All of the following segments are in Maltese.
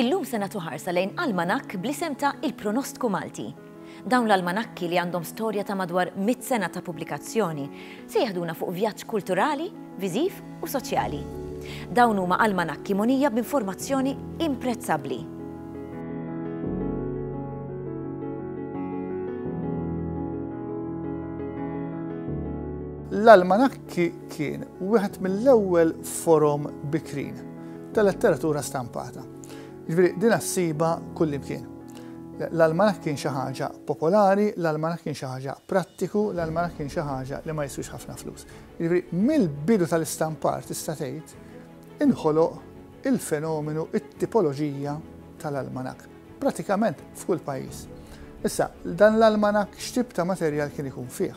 Illum se nagħtu ħarsa lejn almanakk bl-isem ta' Il-Pronostku Malti. Dawn l-almanakki li għandhom storja ta' madwar mitt sena ta' pubblikazzjoni se jeħduna fuq vjaġġ kulturali, viżiv u soċjali. Dawn huma almanakki mogħnija b'informazzjoni imprezzabbli. L-almanakki kien wieħed mill-ewwel forom bikrin ta' letteratura stampata. Jiġifieri din ssibha kullimkien. L-almanaħ kien xi ħaġa popolari, l-almanaħ kien xi ħaġa prattiku, l-almanaħ kien xi ħaġa li ma jiswix ħafna flus. Jiġifieri mill-bidu tal-istampar tista' tgħid inħoloq il-fenomenu it-tipoloġija tal-almanaħ. Pratikament f'kull pajjiż. Issa, dan l-almanaħ x'tip ta' materjal kien ikun fih?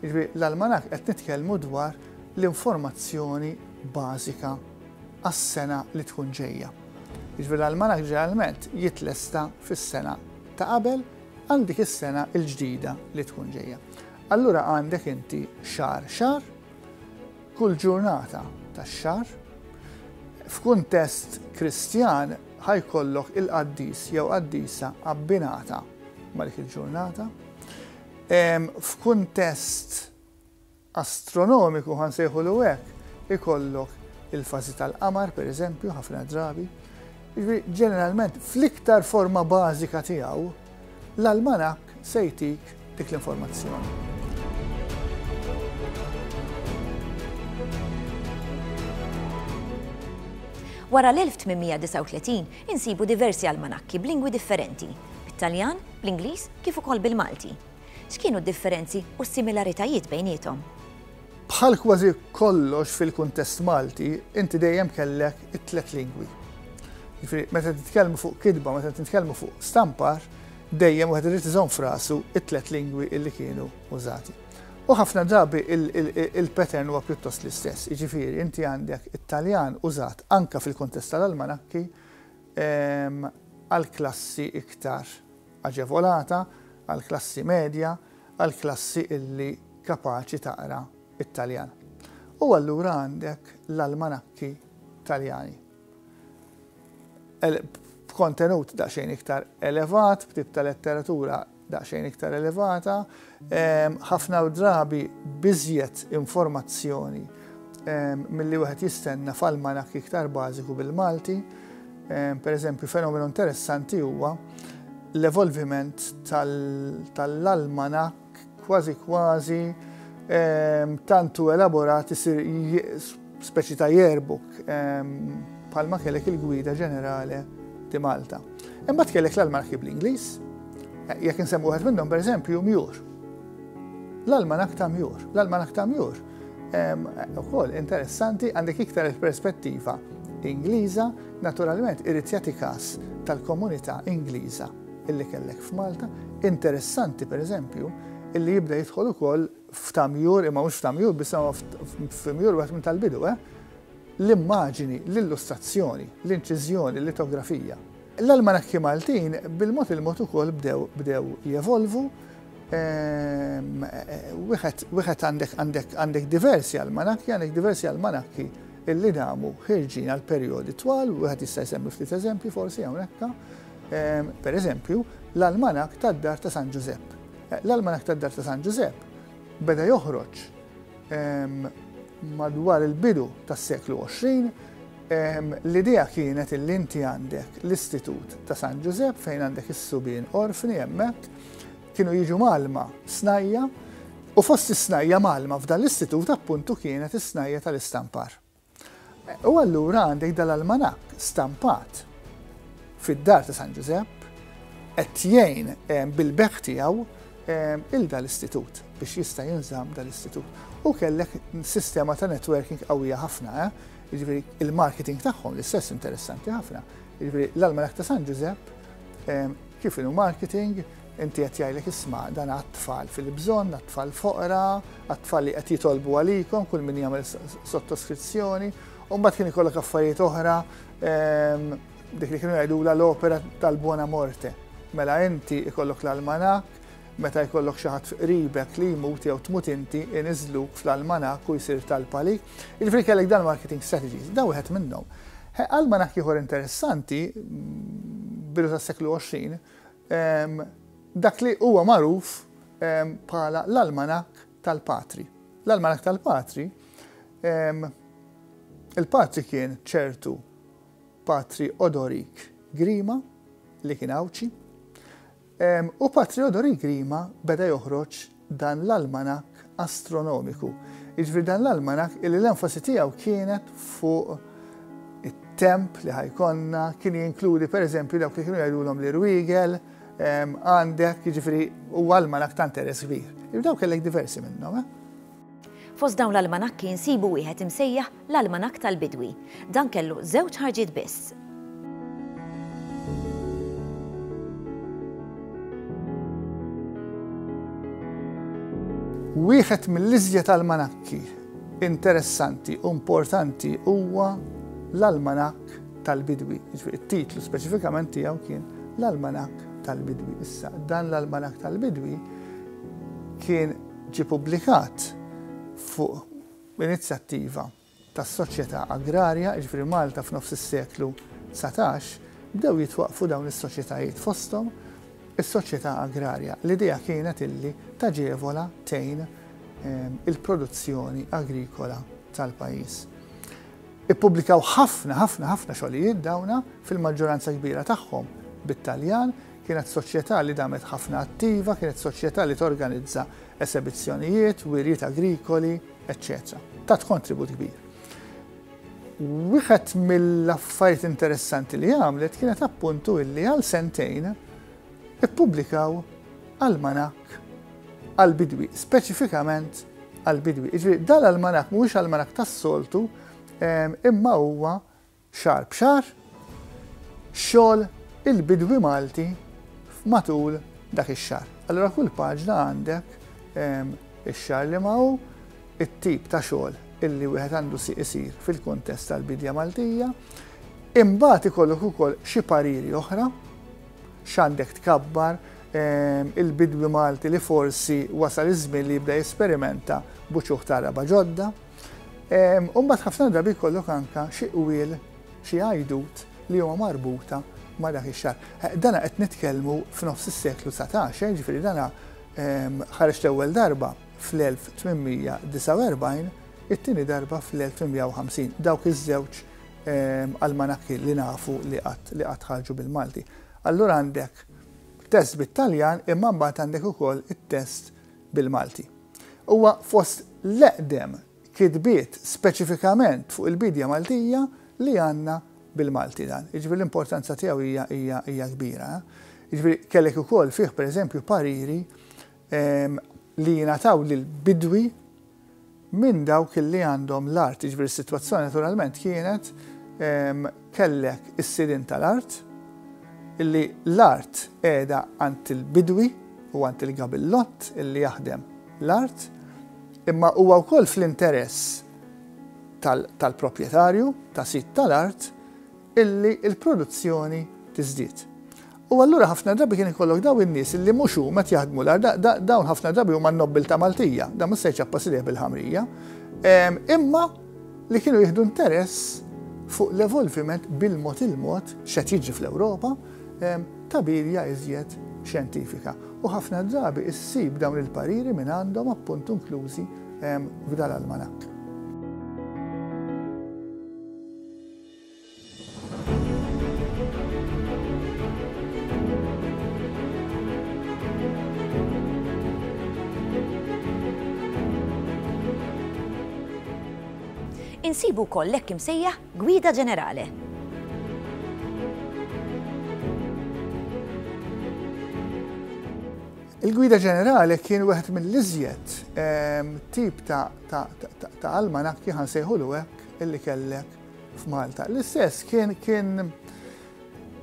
Jiġifieri l-almanakk qed nitkellmu dwar l-informazzjoni bażika għas-sena li tkun ġejja. Jiġifieri l-almanakk ġeneralment jitlesta fis-sena ta' qabel għal dik is-sena l-ġdida li tkun ġejja. Allura għandek inti xahar xahar, kull ġurnata tax-xahar, f'kuntest Kristjan ħajkollok il-qaddis jew qaddisa abbinata ma' dik il-ġurnata. F'kuntest astronomiku, ħa nsejħulu hekk, ikollok il-fażi tal-qamar, per eżempju, ħafna drabi. Jiġifieri, ġeneralment, fl-iktar forma bażika tiegħu, l-almanak se jtik dik l-informazzjoni. Wara l-1839 insibu diversi almanakki b'lingwi differenti, bit-Taljan, bl-Ingliż kif ukoll bil-Malti. X'kienu d-differenzi u s-similaritajiet bejniethom? Bħal kważi kollox fil-kuntest Malti, inti dejjem kellek it-tliet lingwi. Jiġifieri meta titkellmu fuq kitba, meta titkellmu fuq stampar, dejjem wieħed irid iżomm frasu it-tliet lingwi li kienu użati. U ħafna drabi il-pattern huwa pjuttost l-istess, jiġifieri inti għandek it-Taljan użat anke fil-kuntest tal-almanakki, għall-klassi iktar aġevolata, għall-klassi medja, għall-klassi illi kapaċi taqra t-Taljan. U allura għandek l-almanakki Taljani. B'kontenut daqsxejn iktar elevat, b'tip ta' letteratura daqsxejn iktar elevata, ħafna drabi biżjed informazzjoni milli wieħed jistenna f'almanak iktar bażiku bil-Malti. Per eżempju, fenomenu interessanti huwa l-evolviment tal-almanak kważi kważi tantu elaborat isir Speċi ta' yearbook bħalma kellek il-gwida ġenerale di Malta. Imbagħad kellek l-almanakki bl-Ingliż, eh, jekk insemmu wieħed minnhom pereżempju Mjur. L-almanak ta' Mjur, l-almanak ta' Mjur ukoll interessanti għandek iktar il-perspettiva Ingliża, naturalment irid jagħti każ tal-komunità Ingliża illi kellek f'Malta, interessanti pereżempju illi jibda jidħol ukoll f'tamjur, imma mhux f'tamjur biss, imma f'mjur wieħed minn tal-bidu, eh? L-immaġini, l-illustrazzjoni, l-inċiżjoni, l-litografija. L-almanakki Maltin bil-mod il-mod ukoll bdew bdew jevolvu. Ehm, wieħed għandek għandek għandek diversi almanakki, għandek diversi almanakki illi damu ħirġin għal perjodi twal, wieħed jista' jsemmi ftit eżempji forsi hawnhekk. Ehm, per eżempju, l-almanak tad-dar ta' San Ġużepp L-Almanak tad-Dgħajf ta' San Ġużepp beda joħroġ madwar il-bidu tas-seklu 20. L-idea kienet li inti għandek l-Istitut ta' San Ġużepp fejn għandek is-subien orfni hemmhekk kienu jiġu malma snajja u fost is-snajja malma f'dan l-istitut appuntu kienet is-snajja tal-istampar. U allura għandek dal-almanakk stampat fid-dar ta' San Ġużepp qed jgħin bil-bekk tiegħu il dal-istitut biex jista' jinżamm dal-istitut. U kellek sistema ta' networking qawwija ħafna, eh? jiġifieri il-marketing tagħhom l-istess interessanti ħafna. Jiġifieri l-almanak ta' San Ġużepp Kif inhu marketing, inti qed jgħidlek isma' dan għat-tfal fil-bżonn, għat-tfal foqra, għat-tfal li qed jitolbu għalikom, kull min jagħmel sottoskrizzjoni, u mbagħad kien ikollok affarijiet oħra ehm, dik li kienu jgħidula l-opera tal-buona morte. Mela inti ikollok l-almanak, meta jkollok xi ħadd qribek li jmut jew tmut inti iniżluk fl-almanak u jsir tal-palik. Jiġifieri kellek dan marketing strategies, dan wieħed minnhom. Almanack ieħor interessanti, bidu tas-seklu 20, dak li huwa magħruf bħala l-almanack tal-patri. L-almanack tal-patri, il-patri kien ċertu patri Odorik Grima li kien għawċi, U pa Theodor Ingrima beda joħroġ dan l-almanakk astronomiku. Jiġifieri dan l-almanakk illi l-enfasi tiegħu kienet fuq it-temp li ħajkonna, kien jinkludi pereżempju dawk li kienu jgħidulhom l-irwiegel, għandek, jiġifieri huwa almanakk ta' interess kbir. Dawk kellek diversi minnhom. Fost dawn l-almanakki nsibu wieħed imsejjaħ l-Almanakk tal-Bidwi. Dan kellu żewġ ħarġiet biss. Wieħed mill-iżjed almanakki interessanti u importanti huwa l-Almanakk tal-Bidwi. It-titlu speċifikament tiegħu kien l-Almanakk tal-Bidwi. Issa, dan l-Almanakk tal-Bidwi kien ġie ppubblikat fuq inizjattiva tas-Soċjetà Agrarja, jiġifieri Malta f'nofs is-seklu dsatax, bdew jitwaqqfu dawn is-soċjetajiet fosthom is-Soċjetà Agrarja. L-idea kienet illi taġevola, tgħin, il-produzzjoni agrikola tal-pajjiż. Ippubblikaw ħafna, ħafna, ħafna xogħlijiet dawna, fil-maġġoranza kbira tagħhom bit-Taljan, Kienet soċjetà li damet ħafna attiva, kienet soċjetà li torganizza esebizzjonijiet, wirjiet agrikoli, eċċetera. Tat kontribut kbir. Wieħed mill-affarijiet interessanti li għamlet kienet appuntu illi għal sentejn ippubblikaw almanak għal-bidwi, speċifikament għal-bidwi. Iġri, dal-almanak mhuwiex almanak tas-soltu, ehm, imma huwa Xahar b'xahar, xogħol il-bidwi Malti matul dak ix-xahar. Allura kull paġna għandek ix-xahar liema hu, it-tip ta' xogħol illi wieħed għandu isir fil-kuntest tal-bidja Maltija. Imbagħad ikollok ukoll xi pariri oħra, x'għandek tkabbar, il-bidwi Malti li forsi wasal iż-żmien li jibda jesperimenta b'uċuħ ta' għaraba ġodda. U mbagħad ħafna drabi jkollok anke xi qwiel, xi għajdut li huma marbuta ma' dak ix-xahar. Dana qed nitkellmu f'nofs is-seklu satax, jiġifieri dana ħareġ l-ewwel darba fl-1849, it-tieni darba fl-1850. Dawk iż-żewġ almanakki li nafu li qatt li qatt ħarġu bil-Malti. Allura għandek test bit-Taljan imma mbagħad għandek ukoll it-test bil-Malti. Huwa fost l-eqdem kitbiet speċifikament fuq il-biedja Maltija li għandna bil-Malti dan. Jiġifieri l-importanza tiegħu hija hija hija kbira. Jiġifieri kellek ukoll fih pereżempju pariri li jingħataw lill-bidwi minn dawk li għandhom l-art, jiġifieri s-sitwazzjoni naturalment kienet kellek is-sidien tal-art illi l-art qiegħda għand il-bidwi u għand il-gabillott illi jaħdem l-art imma huwa wkoll fl-interess tal-proprjetarju, ta' sid tal-art, illi l-produzzjoni tiżdied. U allura ħafna drabi kien ikollok dawn in-nies illi mhux huma qed jaħdmu l-art, dawn ħafna drabi huma n-nobbiltà Maltija, dan mhux se jċappas idejh bil-ħamrija, imma li kienu jieħdu interess fuq l-evolviment bil-mod il-mod x'qed jiġri fl-Ewropa ta' birja iżjed xjentifika. U ħafna drabi issib dawn il-pariri minn għandhom appunt inklużi f'dal almanak. Insibu wkoll l-hekk imsejjaħ Gwida Ġenerale. Il-Gwida Ġenerale kien wieħed mill-iżjed ehm, tip ta' almanakki ħansejħulu hekk illi kellek f'Malta. L-istess kien kien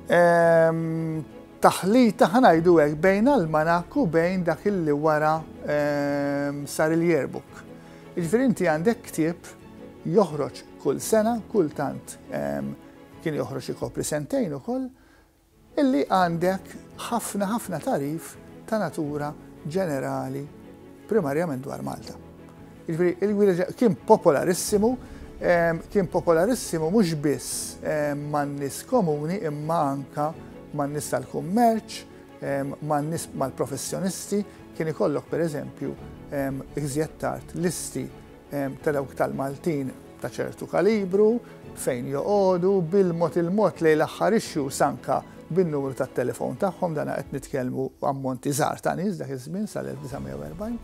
ehm, taħlita ħanajdu hekk bejn almanak u bejn dak illi wara ehm, sar il-yearbook. Ġifieri inti għandek ktieb joħroġ kull sena, kultant ehm, kien joħroġ ikopri sentejn ukoll, Illi għandek ħafna ħafna tagħrif ta' natura ġenerali primarjament dwar Malta. Jiġifieri il-gwida kien popolarissimu, kien popolarissimu mhux biss man-nies komuni imma anka man-nies tal-kummerċ, man-nies mal-professjonisti, kien ikollok pereżempju iżjed tard listi ta' dawk tal-Maltin ta' ċertu kalibru, fejn joqogħdu, bil-mod il-mod lejn l-aħħar issues anke bin-numru tat-telefon tagħhom, dan qed nitkellmu ammonti żgħar ta' nies dak iż-żmien sal-1940,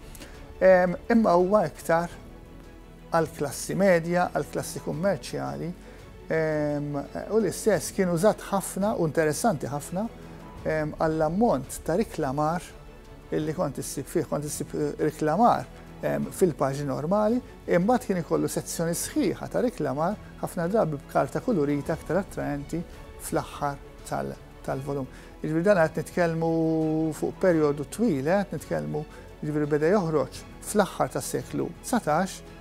imma huwa iktar għall-klassi medja, għall-klassi kummerċjali u l-istess kien użat ħafna u interessanti ħafna għall-ammont ta' riklamar, Illi kont issib fih, kont issib riklamar fil-paġni normali, imbagħad kien ikollu sezzjoni sħiħa ta' riklamar ħafna drabi b'karta kulurita aktar attraenti fl-aħħar tal-volum. Jiġifieri dan qed nitkellmu fuq perjodu twil, eh, qed nitkellmu jiġifieri beda joħroġ fl-aħħar tas-seklu 19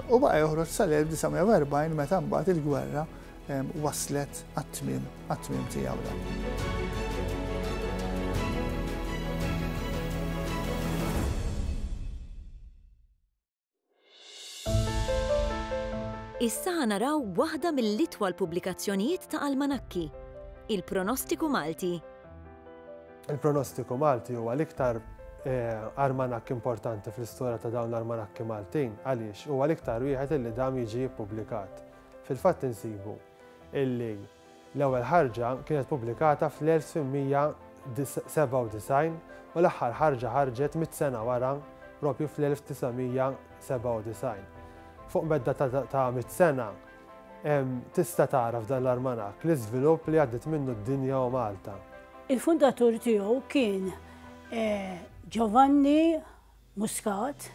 u baqa' joħroġ sal-1940 meta mbagħad il-gwerra waslet għat-tmiem, għat-tmiem tiegħu. Issa ħa naraw waħda mill-itwal pubblikazzjonijiet ta' almanakki, il-Pronostiku Malti. Il-Pronostiku Malti huwa l-iktar eh, armanakk importanti fl-istorja ta' dawn l-armanakki Maltin għaliex huwa l-iktar wieħed li dam jiġi ppubblikat. Fil-fatt insibu illi l-ewwel ħarġa kienet pubblikata fl-1897 u l-aħħar ħarġa ħarġet mitt sena wara proprju fl-1997. Fuq medda ta' mitt sena tista' tara f'dan l-armanakk l-iżvilupp li għaddiet minnu d-dinja u Malta. Il-fundatur tiegħu kien Giovanni Muscat,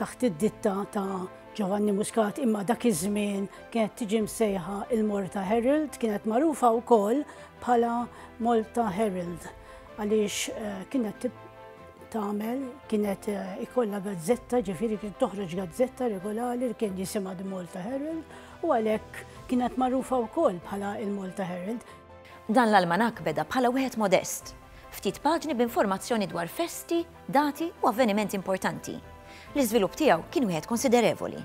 taħt id-ditta ta' Ġovanni Muscat imma dak iż-żmien kienet tiġi msejħa il-Malta Herald, kienet magħrufa wkoll bħala Malta Herald għaliex eh, kienet tagħmel kienet eh, ikollha gazzetta, ġifieri kien toħroġ gazzetta regolari li kien jisimha The Malta Herald u għalhekk kienet magħrufa wkoll bħala il-Malta Herald. Dan l-almanak beda bħala wieħed modest, ftit paġni b'informazzjoni dwar festi Dati u avvenimenti importanti. L-iżvilupp tiegħu kien wieħed konsiderevoli.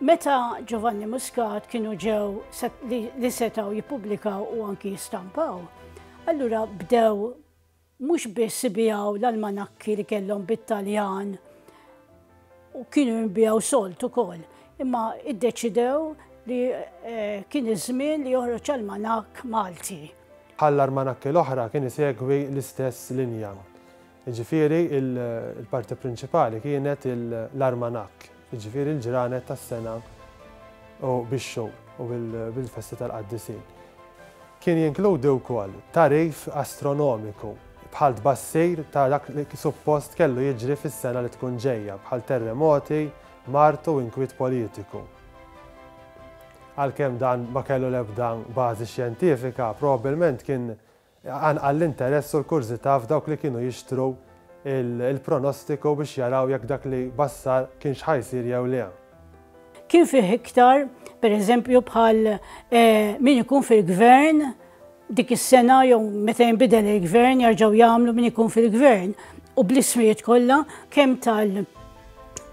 Meta Giovanni Muscat kienu ġew li setgħu jippubblikaw u anki jistampaw, allura bdew mhux biss ibijaw l-almanakki li kellhom bit-Taljan, u kienu jinbiegħu solt ukoll, imma iddeċidew li eh, kien iż-żmien li joħroġ almanak Malti. Bħal armanakki l-oħra kien isegwi l-istess linja. Ġifieri il-parti prinċipali kienet l-armanakk, ġifieri l-ġranet tas-sena u bix-xhur u bil-festi tal-qaddisin. Kien jinkludi wkoll tarif astronomiku bħal tbassir ta' dak li suppost kellu jiġri fis-sena li tkun ġejja, bħal terremoti, mard u inkwiet politiku. Għalkemm dan ma kellu l-ebda bażi xjentifika, probabbilment kien qanqal l-interess u l-kurżità f'dawk li kienu jixtru l-pronostiku biex jaraw jekk dak li bassar kienx ħa jsir jew le. Kien fih iktar, pereżempju, bħal min ikun fil-gvern dik is-sena jew meta jinbidel il-gvern jarġgħu jagħmlu min ikun fil-gvern u bl-ismijiet kollha kemm tal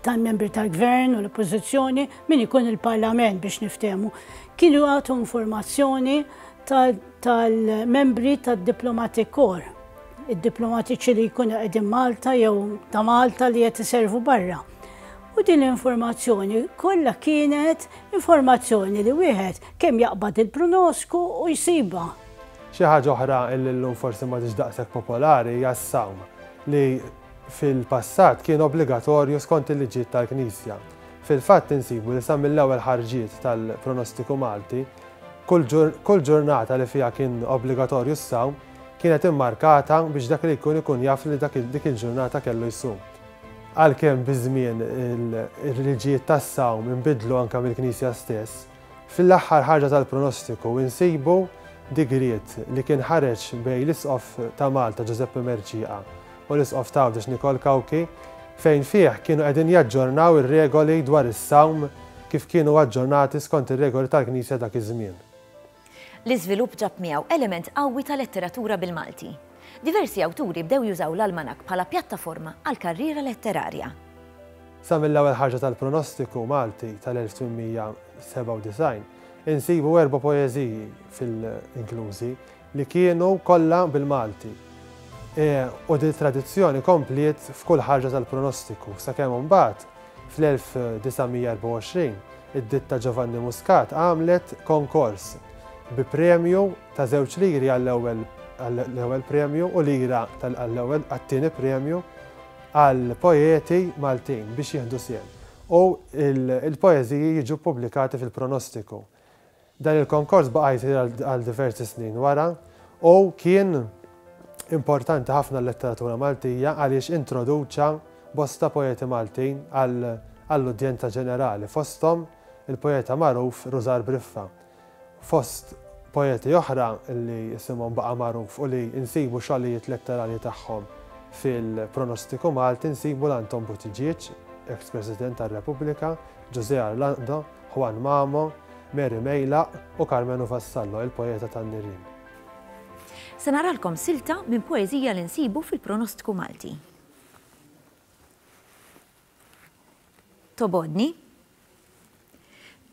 tal-membri tal-gvern u l-oppożizzjoni min ikun il-parlament biex niftehmu. Kienu għatu informazzjoni tal-membri tad-diplomatic corps, id-diplomatiċi li jkunu qegħdin Malta jew ta' Malta li qed iservu barra. U din l-informazzjoni kollha kienet informazzjoni li wieħed kemm jaqbad il-prunosku u jsibha. Xi ħaġa oħra li llum forsi m'għadhiex daqshekk popolari hija s-sawm, li fil-passat kien obbligatorju skont il-liġijiet tal-Knisja. Fil-fatt insibu li sa mill-ewwel ħarġiet tal-Pronostiku Malti, kull ġurnata li fiha kien obbligatorju s-sawm kienet immarkata biex dak li jkun ikun jaf li dik il-ġurnata kellu jsum. Għalkemm biż-żmien il-liġijiet tas-sawm inbidlu anke mill-Knisja stess, fl-aħħar ħarġa tal-pronostiku insibu digriet li kien ħareġ bejn l-Isqof ta' Malta Ġużeppi Mercieqa u l-Isqof t'Għawdex Nikol Cauchi fejn fih kienu qegħdin jaġġornaw ir-regoli dwar is-sawm kif kienu aġġornati skont ir-regoli tal-Knisja dak iż-żmien. L-iżvilupp ġab miegħu element qawwi ta' letteratura bil-Malti. Diversi awturi bdew jużaw l-almanakk bħala pjattaforma għall-karriera letterarja. Sa mill-ewwel ħarġa tal-Pronostiku Malti tal-1897, insibu erba' poeżiji fil-inklużi, li kienu kollha bil-Malti. U dil-tradizzjoni kompliet f'kull ħarġa tal-Pronostiku, sakemm imbagħad, Fl-1924, id-ditta Giovanni Muscat għamlet konkors bi premju ta' żewġ liri għall-ewwel għall-ewwel premju u lira għall-ewwel għat-tieni premju għal poeti Maltin biex jieħdu sehem u l-poeżiji jiġu ppubblikati fil-Pronostiku. Dan il-konkors baqa' jsir għal diversi snin wara u kien importanti ħafna għal-letteratura Maltija għaliex introduċa bosta poeti Maltin għall-udjenza ġenerali, fosthom il-poeta magħruf Rużar Briffa. Fost poeti oħra li isimhom baqa' magħruf u li nsibu xogħlijiet letterarji tagħhom fil-Pronostiku Malti nsibu l-Anton Buttigieg, eks-President tar-Repubblika, Ġużè Arlando, Juan Mamo, Mary Meilaq u Karmenu Vassallo, il-poeta tan-nirien. Se naralkom silta minn poeżija li nsibu fil-Pronostku Malti. Tobgħodni?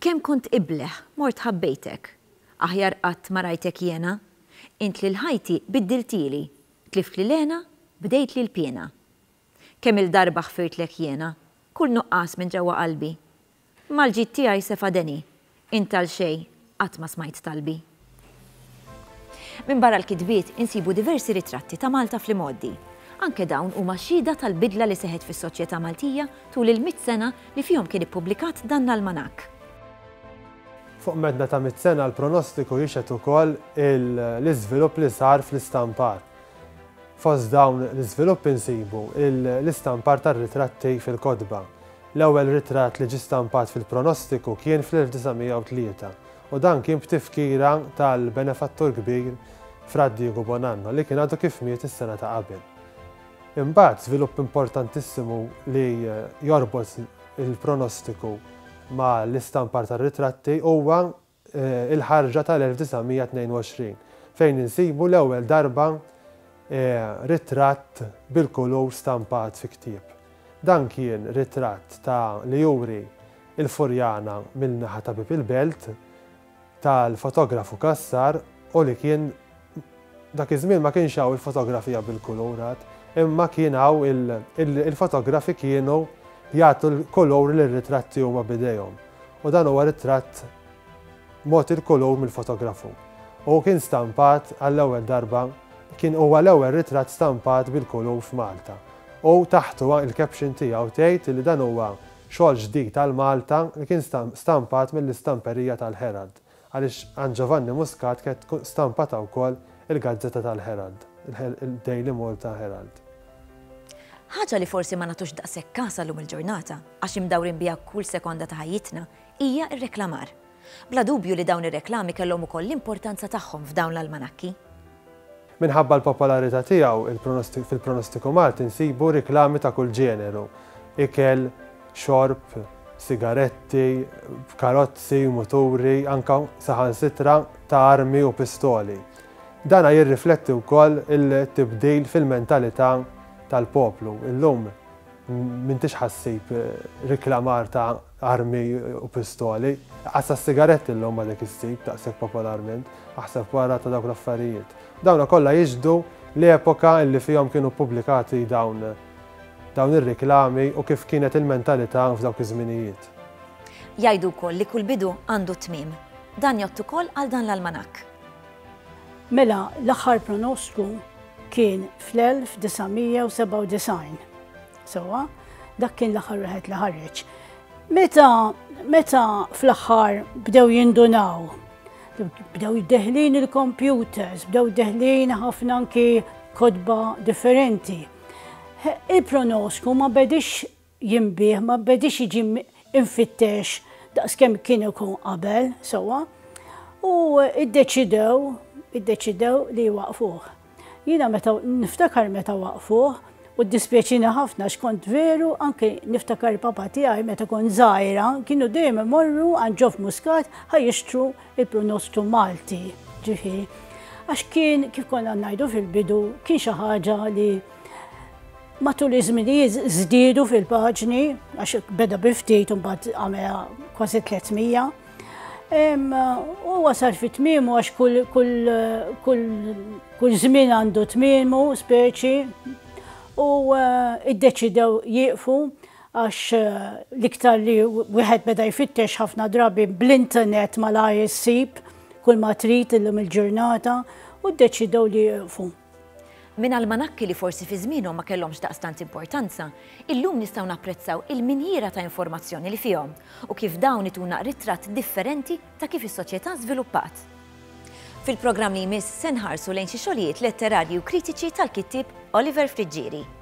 Kemm kont ibleh, mort ħabbejtek. Aħjar qatt ma rajtek jiena. Int lil ħajti biddiltili. Tliftli l-hena, bdejtli l-piena. Kemm-il darba ħfirtlek jiena. Kull nuqqas minn ġewwa qalbi. Mal-ġid tiegħi se fadeni. Int għal xejn qatt ma smajt talbi. Minbarra l-kitbiet insibu diversi ritratti ta' Malta fl-imgħoddi. Anke dawn huma xhieda tal-bidla li seħħet fis-soċjetà Maltija tul il-mitt sena li fihom kien ippubblikat dan l-almanakk. Fuq medda ta' mitt sena l-pronostiku jixhed ukoll l-iżvilupp li sar fl-istampar. Fost dawn l-iżviluppi nsibu l-istampar tar-ritratti fil-kotba. L-ewwel ritratt li ġie stampat fil-Pronostiku kien fl-1903 u dan kien b'tifkira tal-benefattur kbir Fra Diegu Bonanno li kien għadu kif miet is-sena ta' qabel. Imbagħad żvilupp importantissimu li jorbot il-Pronostiku ma' l-istampar tar-ritratti huwa il-ħarġa tal-1922, fejn insibu l-ewwel darba ritratt bil-kulur stampat fi ktieb. Dan kien ritratt ta' li juri l-Furjana mill-naħa ta' Bieb il-Belt tal-fotografu Cassar u li kien Dak iż-żmien ma kienx hawn il-fotografija bil-kulur għad, imma kien hawn il-fotografi kienu jagħtu l-kulur lir-ritratti huma b'idejhom. U dan huwa ritratt mogħti l-kulur mill-fotografu. U kien stampat għall-ewwel darba, kien huwa l-ewwel ritratt stampat bil-kulur f'Malta. U taħtu il-caption tiegħu tgħid li dan huwa xogħol ġdid għal Malta li kien stampat mill-istamperija tal-Herald. Għaliex għand Ġovanni Muscat kienet tkun stampata wkoll il-gazzetta tal-Herald, il-Daily Malta Herald. Ħaġa li forsi ma nagħtux daqshekk kasha llum il-ġurnata, għax imdawrin biha kull sekonda ta' ħajjitna, hija r-reklamar. Bla dubju li dawn ir-reklami kellhom ukoll l-importanza tagħhom f'dawn l-almanakki. Minħabba l-popolarità tiegħu, fil-pronostiku Malti nsibu riklami ta' kull ġeneru, ikel, xorb, sigaretti, karozzi, muturi, anke saħansitra ta' armi u pistoli. Dan jirrifletti wkoll it-tibdil fil-mentalità tal-poplu. Illum m'intix ħa ssib riklamar ta' armi u pistoli. Għadd sa s-sigaretti llum għadek issib daqshekk popolarment, aħseb wara ta' dawk l-affarijiet. Dawna kollha jixhdu l-epoka li fihom kienu ppubblikati dawn dawn ir-riklami u kif kienet il-mentalità f'dawk iż-żminijiet. Jgħidu wkoll li kull bidu għandu tmiem. Dan jgħodd ukoll għal dan l-almanakk. Mela l-aħħar pronostku kien fl-1997. Sewwa, dak kien l-aħħar wieħed li ħareġ. Meta meta fl-aħħar bdew jindunaw, bdew deħlin il-computers, bdew deħlin ħafna anki kodba differenti. Il-pronosku ma bedix jimbih, ma bedix jiġi infittex daqskemm kien ikun qabel, sewwa, u iddeċidew, iddeċidew li waqfuh. Jiena meta niftakar meta waqfuh u ddispjaċini ħafna x'kont veru anke niftakar papa tiegħi meta kont żgħira kienu dejjem imorru għand ġof muskat ħa jixtru il-pronostu Malti. Ġifieri, għax kien kif konna ngħidu fil-bidu kien xi ħaġa li matul iż-żminijiet żdiedu fil-paġni għax beda biftit u mbagħad għamela kważi 300. U wasal fit tmimu għax kull żmien għandu tmimu speċi u eh, iddeċidew jieqfu għax eh, liktar li wieħed beda jfittex ħafna drabi bl-internet mal-ISIP kull ma trid illum il-ġurnata u ddeċidew li jieqfu. Minn almanakki li forsi fi żmienhom ma kellhomx daqstant importanza, illum nistgħu napprezzaw il-minjiera ta' informazzjoni li fihom u kif dawn ituna ritratt differenti ta' kif is-soċjetà żviluppat. Fil-programm li jmiss se nħarsu lejn xi xogħlijiet letterarji u kritiċi tal-kittieb Oliver Friggieri.